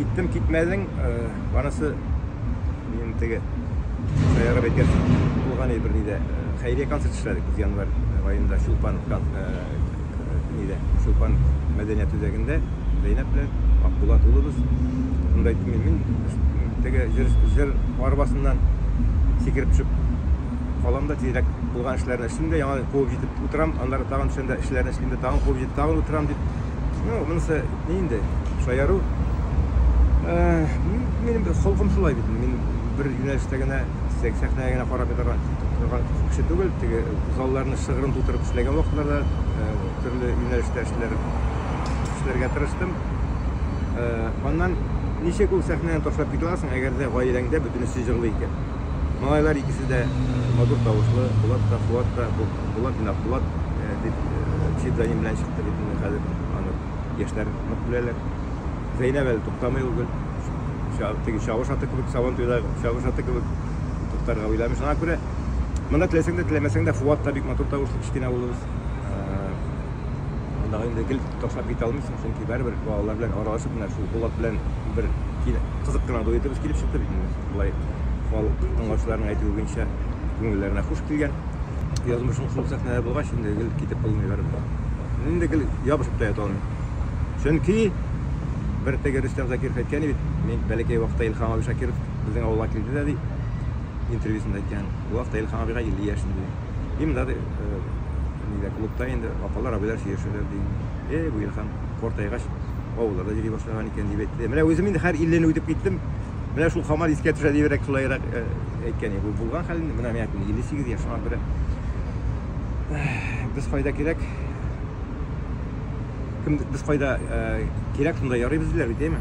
Киттем, китмәдең, барысы минем теге сәйрәп әйткән булган иде бер нидә. Хәйрия концерт эшләдек без январь айында Чулпан нидә, Чулпан мәдәният үзәгендә Зәйнәп белән Акбулат улыбыз. Шунда әйттем мин, мин теге җыр, җыр арбасыннан сикереп төшеп калам да тизрәк булган эшләрне эшлим дә, яңа куып җитеп утырам, аннары тагын төшәм дә эшләрне эшлим дә, тагын куып җитеп тагын утырам дип Ну, монысы ни инде, шаяру. Минем холкым шулай бит. Мин бер юнәлештә генә, сәхнәгә генә карап ятарга торган кеше түгел. Теге залларны шыгрым тутырып эшләгән вакытларда төрле юнәлештә эшләр эшләргә тырыштым. Аннан ничек ул сәхнәне ташлап китә аласың, әгәр дә гаиләңдә бөтенесе җырлый икән? Малайлар икесе дә матур тавышлы, Булат та, Фуат та, Булат белән Булат дип псевдоним белән чыкты бит инде хәзер. Аны яшьләр нык беләләр. Зәйнәб әле туктамый ул гел. Теге чавыш аты кебек, сабан туйда чавыш аты кебек туктарга уйламый. Шуңа күрә монда теләсәң дә, теләмәсәң дә Фуат та бик матур тавышлы кечкенә улыбыз. Андагы инде гел ташлап китә алмыйсың, чөнки барыбер балалар белән аралашып менә шул Булат белән бер кызык кына дуэтыбыз килеп чыкты бит инде. Болай халык тыңлаучыларның әйтүе буенча күңелләренә хуш килгән. Язмышың шул сәхнәләр булгач, инде гел китеп булмый барыбер. Инде гел ябышып та ята алмыйм. Чөнки бер теге Рөстәм Закиров әйткән бит, мин бәләкәй вакытта Илһам абый Шакиров безнең авылга килде дә ди, интервьюсында әйткән. Ул вакытта Илһам абыйга 50 яшь инде. Дим да, ди, нидә, клубта инде апалар, абыйлар сөйләшәләр, ди. Эй, бу Илхан картайгач, авылларда йөри башлаган икән, дип әйтте. Менә үзем инде хәр илле үтеп киттем. Менә шул хамар искә төшә дибрәк, шулайрак әйткән иде. Бу булган хәлне, менә миңа 58 яшь, шуңа күрә без кайда кирәк, кем без кайда кирәк, шунда ярыйбыз диләр бит, әйме?